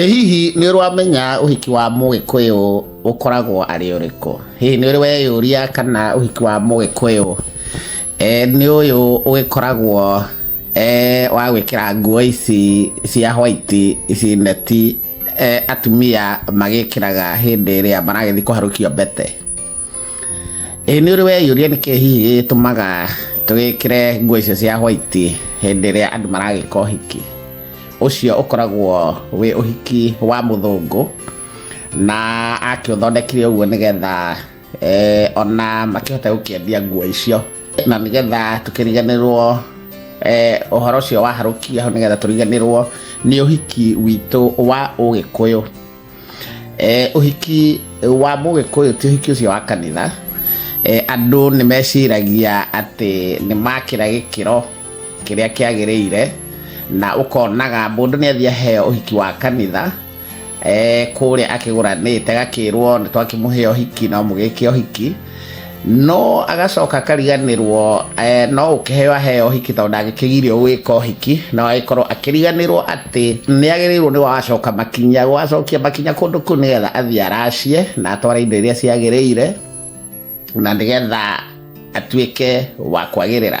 Ĩ hihi nĩ ũramenya ũhiki wa mũgĩkũyũ ũkoragwo arĩ ũrĩkũ? Hihi nĩ ũrĩ weyũria kana ũhiki wa mũgĩkũyũ nĩ ũyũ ũgĩkoragwo wa gwĩkĩra nguo ici cia white ici neti atumia magĩkĩraga hĩndĩ ĩrĩa maragĩthiĩ kũharũkia mbete? Ĩ nĩ ũrĩ weyũria nĩkĩ hihi gĩgĩtũmaga tũgĩkĩre nguo icio cia white hĩndĩ ĩrĩa andũ maragĩka ũhiki? ũcio ũkoragwo wĩ ũhiki wa mũthũngũ na akĩũthondekire ũguo nĩgetha eh, ona makĩhota gũkĩendia nguo icio na nĩgetha tũkĩriganĩrwo eh, ũhoro ũcio waharũkia hau nĩgetha tũriganĩrwo nĩ ũhiki witũ wa ũgĩkũyũ eh, ũhiki wa mũgĩkũyũ ti ũhiki ũcio wa kanitha eh, andũ nĩ meciragia atĩ nĩ makĩra gĩkĩro kĩrĩa kĩagĩrĩire na ũkonaga mũndũ nĩ athiĩ aheo ũhiki wa kanitha eh, kũrĩa akĩgũranĩte agakĩrwo nĩ twakĩmũhe ũhiki no mũgĩke ũhiki no agacoka akariganirwo eh, no ukiheo aheo hiki tondå ndangäkägirio gwä ka hiki na agäkorwo akĩriganĩrwo atĩ nĩ agĩrĩirwo nĩ wacoka makinya gwacokia makinya kũndũ kũu nĩgetha athiĩ aracie na atware indo iria ciagĩrĩire na nĩgetha atuĩke wa kwagĩrĩra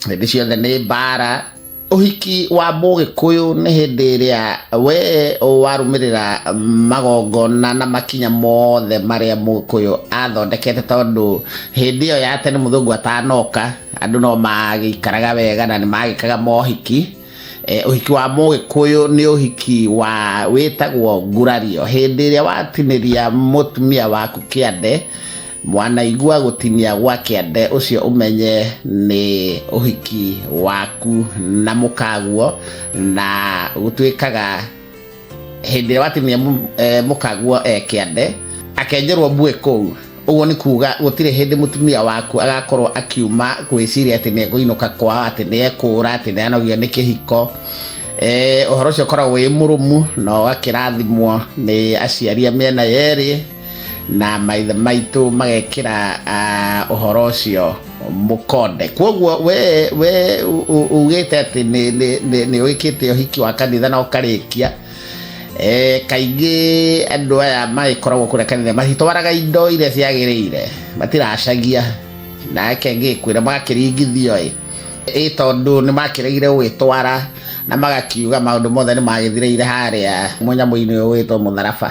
hĩndĩ ciothe nĩ mbara ũhiki wa mũgĩkũyũ nĩ hĩndĩ ĩrĩa we warũmĩrĩra magongona na makinya mothe marĩa mũgĩkũyũ athondekete tondũ hĩndĩ ĩyo ya tene mũthũngũ atanoka andũ no magĩikaraga wega na nĩ magĩkaga mohiki Eh, ũhiki wa mũgĩkũyũ nĩ ũhiki wa wĩtagwo ngurario hĩndĩ ĩrĩa watinĩria mũtumia waku kĩande mwanaigua gũtinia gwa kĩande ũcio ũmenye nĩ ũhiki waku na mũkaguo na gũtuĩkaga hĩndĩ ĩrĩa watinia mũ- eh, mũkaguo eh, kĩande akenjerwo mbuĩ kũu ũguo nĩ kuga gũtirĩ hĩndĩ mũtumia waku agakorwo akiuma gwĩciria atĩ nĩ ekũinũka kwao atĩ nĩ ekũra atĩ nĩ anogio nĩ kĩhiko Eh, ũhoro ũcio ũkoragwo wĩ mũrũmu na ũgakĩrathimwo nĩ aciari a mĩena yerĩ na maithe maitũ magekĩra ah, ũhoro ũcio mũkonde kwoguo we we u- u- ugĩte atĩ nĩ- nĩ- nĩ- nĩ ũgĩkĩte ũhiki wa kanitha na ũkarĩkia Eh, kaingĩ andũ aya magĩkoragwo kũrĩa kanitha matitwaraga indo iria ciagĩrĩire matiracagia nake ngĩkwĩra magakĩringithio ĩ ĩ tondũ nĩ makĩregire gũgĩtwara na magakiuga maũndũ mothe nĩ magĩthirĩire harĩa mũnyamũ-inĩ ũyũ wĩtwo mũtharaba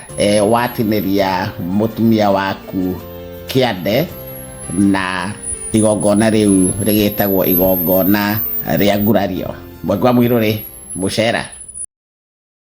e, watinĩria mũtumia waku kĩande na igongona rĩu rĩgĩtagwo igongona rĩa ngurario mwekwa mwirũ rĩ mũcera